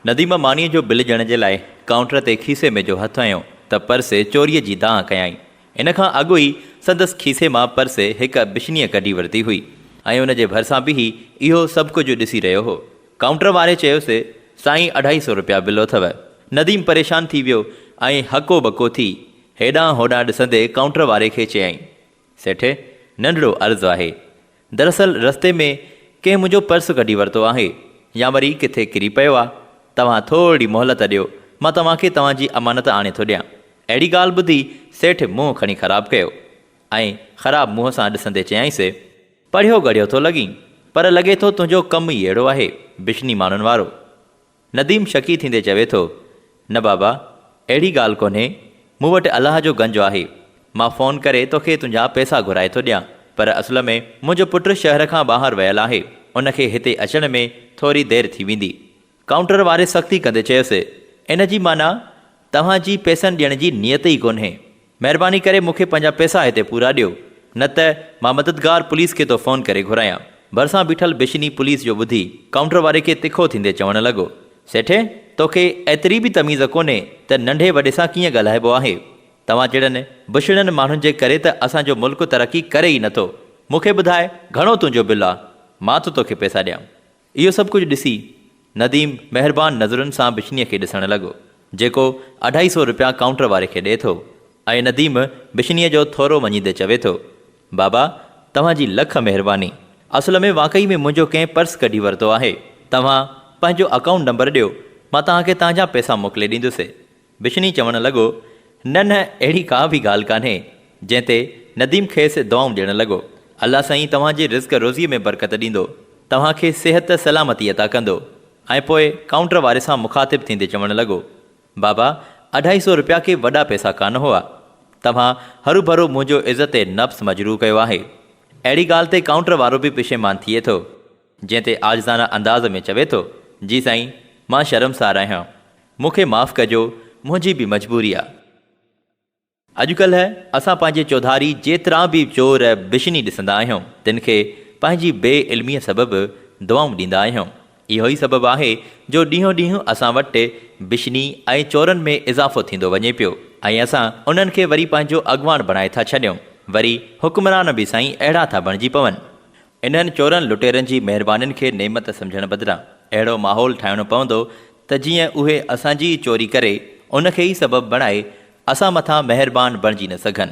نديم مانيء جو بل ڏيڻ جي لاء ڪائونٽر تي کيسي ۾ جو هٿ هنيو ته پرسي چوريء جي دانهن ڪيائين. ان کان اڳ ئي سندس کيسي مان پرسي هڪ بشنيء ڪڍي ورتي هئي ۽ ان جي ڀرسان بيهي اهو سڀ ڪجهه ڏسي رهيو هو. ڪائونٽر واري چيوسي، سائين اڍائي سو رپيا بل اٿو. نديم پريشان ٿي ويو ۽ هڪو ٻڪو ٿي هيڏانهن هوڏانهن ڏسندي ڪائونٽر واري کي چيائين، سيٺ، ننڍڙو عرض آهي. دراصل رستي ۾ ڪنهن منهنجو پرس ڪڍي ورتو آهي يا وري ڪٿي ڪري پيو آ، توهان ٿورڙي مهلت ڏيو مان توهان کي توهان جي امانت آڻي ٿو ڏيان. اهڙي ڳالهه ٻڌي سيٺ منهن کڻي خراب ڪيو ۽ خراب منهن سان ڏسندي چيائينس. پڙهيو ڳڙهيو ٿو لڳين پر لڳي ٿو تنهنجو ڪم ئي اهڙو آهي بشني ماڻهن وارو. نديم شڪي ٿيندي چوي ٿو، نه بابا، اهڙي ڳالهه ڪونهي، مون وٽ الله جو گنج آهي، مان فون ڪري توکي تنهنجا پئسا گهرائي ٿو ڏيان، پر اصل ۾ منهنجو پٽ شهر کان ٻاهر ويل آهي، ان کي هتي اچڻ ۾ ٿوري دير ٿي ويندي. ڪائونٽر واري سختي ڪندي چيس، ان جي معنيٰ توهان جي پئسن ڏيڻ جي نيت ئي ڪونهي. مهرباني ڪري مون کي پنهنجا پئسا هتي پورا ڏيو نه ته مان مددگار پوليس کي ٿو فون ڪري گهرايان ڀرسان بيٺل بشني پوليس جو ٻڌي ڪائونٽر واري کي تکو ٿيندي چوڻ لڳو سيٺي توکي ايتري به تميز ڪونهي ته ننڍي وڏي سان ڪيئن ڳالهائبو آهي توهان جهڙن بشڙن ماڻهن جي ڪري ته اسان جو ملڪ ترقي ڪري ئي نٿو مون کي ٻڌاء گهڻو تنهنجو بل آ مان ٿو توکي پئسا ڏيان. اهو سڀ ڪجهه ڏسي، نديم مهربان نظرن سان بشنيء کي ڏسڻ لڳو، جيڪو اڍائي سو رپيا ڪائونٽر واري کي ڏئي ٿو ۽ نديم بشنيء جو ٿورو مڃيندي چوي ٿو، بابا، توهان جي لک مهرباني. اصل ۾ واقعي ۾ منهنجو ڪنهن پرس ڪڍي ورتو آهي. توهان پنهنجو اڪائونٽ نمبر ڏيو، مان توهان کي تهان جا پئسا موڪلي ڏيندس. بشني چوڻ لڳو، نه نه اهڙي ڪا به ڳالهه ڪانهي. جنهن تي نديم کيس دعائون ڏيڻ لڳو، الله سائين توهان جي رزق روزيء ۾ برڪت ڏيندو، توهان کي صحت سلامتي عطا ڪندو. ۽ پوء ڪائونٽر واري سان مخاطب ٿيندي چوڻ لڳو، بابا اڍائي سو رپيا ڪي وڏا پئسا ڪانه هئا. توهان هروڀرو منهنجو عزت نفس مجروح ڪيو آهي. اهڙي ڳالهه تي ڪائونٽر وارو به پشيمان ٿئي ٿو. جنهن تي عاجزانه انداز ۾ چوي ٿو، جي سائين، مان شرمسار آهيان. مون کي معاف ڪجو، منهنجي به مجبوري آ. اڄڪلهه اسان پنهنجي چوڌاري جيترا به چور بشني ڏسندا آهيون، تن کي پنهنجي بي علميء سبب دعائون ڏيندا آهيون. اهو ئي سبب آهي جو ڏينهون ڏينهن اسان وٽ بشني ۽ چورن ۾ اضافو ٿيندو وڃي پيو ۽ اسان انهن کي وري پنهنجو اڳواڻ بڻائي ٿا ڇڏيون. وري حڪمران به سائين اهڙا ٿا بڻجي پون. انهن چورن لٽيرن جي مهربانين کي نعمت سمجهڻ بدران اهڙو ماحول ٺاهڻو پوندو ته جيئن اهي اسان جي ئي چوري ڪري ان کي ئي سبب بڻائي اسان مٿان مهربان بڻجي نه سگهن.